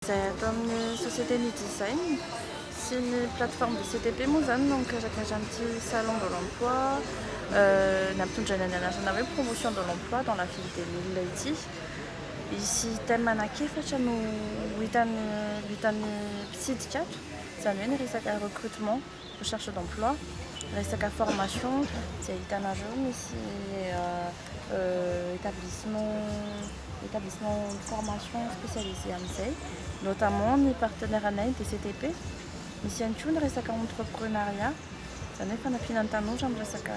Izay ato amin'ny Société Ny Design sy ny plateforme de CTP moa izany no mikarakara an'ity Salon de l'Emploi nampitondraina ny anarana hoe Promotion de l'Emploi dans la ville des Milles ity. Hisy thème anankiefatra no ho hitan'ny ho hitan'ny mpitsidika ato, izany hoe ny resaka recrutement. recherche d'emploi, resaka formation izay hitanareo misy établissement établissement de formation spécialisé amin'izay, notamment ny partenaire anay ny DCTP, misy ihany koa ny resaka entreprenariat, izany hoe fanampiana ny tanora amin'ny resaka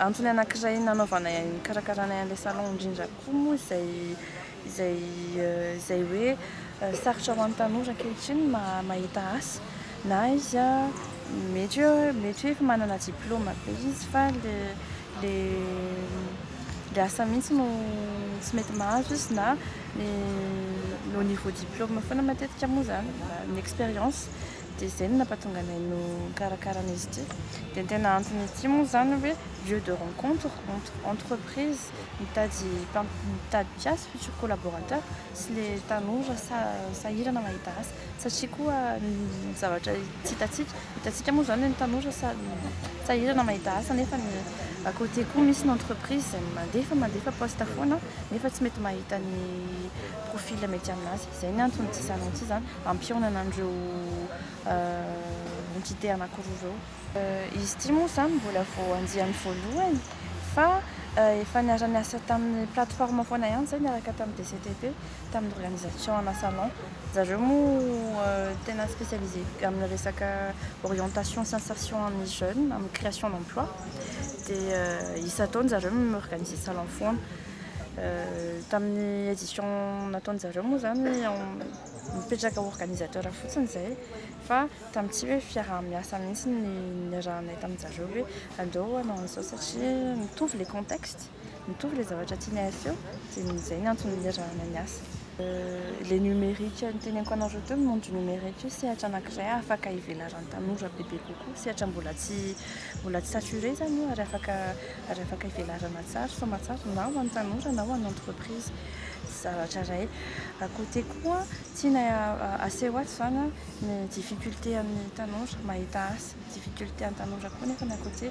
Antony anankiray nanaovanay an nikarakaranay an'ilay salon indrindra koa moa izay izay izay hoe sarotra ho an'ny tanora ankehitriny ny mahita asa na izy a mety hoe mety hoe efa manana diplaoma be izy fa le le le asa mihitsy no tsy mety mahazo izy na ny no niveau diplaoma foana matetika moa izany ny expérience Dia izay no nampatonga anay no nikarakara an'izy ity. Dia ny tena anton'izy ity moa izany hoe lieu de rencontre entre entreprise mitady mpam- mitady mpiasa, futur collaborateur, sy ilay tanora sa- sahirana mahita asa. Satria koa ny zavatra tsy hitantsika, hitantsika moa izany hoe ny tanora sa- sahirana mahita asa nefa ny à côté koa misy ny entreprise izay mandefa mandefa poste foana nefa tsy mety mahita ny profil mety aminazy. Izay ny antony tsy izany tsy izany hampihaonana an'ireo entité anankiroa ireo. Izy ity moa izany mbola vao andiany voalohany fa efa niara-niasa tamin'ny plateforme foana ihany izay niaraka tamin'ny DCTP, tamin'ny organisation ana salon. Zareo moa tena spécialisé amin'ny resaka orientation sy insertion an'ny jeune amin'ny création d'emploi dia isan-taona zareo mi-organiser salon foana. Tamin'ny edition nataony zareo moa zany mipetraka organisateur fotsiny izay fa tamin'ny tsy hoe fiaraha-miasa mihitsy ny niarahanay tamin'ny zareo hoe andao hanao an'izao satria mitovy le contexte, mitovy le zavatra tianay aseho dia izay ny antony niarahanay niasa. Ilay numérique noteneniko anareo teo, ny monde numérique io sehatra anankiray afaka hivelaran'ny tanora bebe kokoa. Sehatra mbola tsy mbola tsy saturé izany io ary afaka ary afaka hivelarana tsara, soamantsara na ho an'ny tanora na ho an'ny entreprise. Tsy zavatra iray. À côté koa, tiana aseho ato izany ny difficulté an'ny tanora mahita asa. Difficulté an'ny tanora koa nefa à côté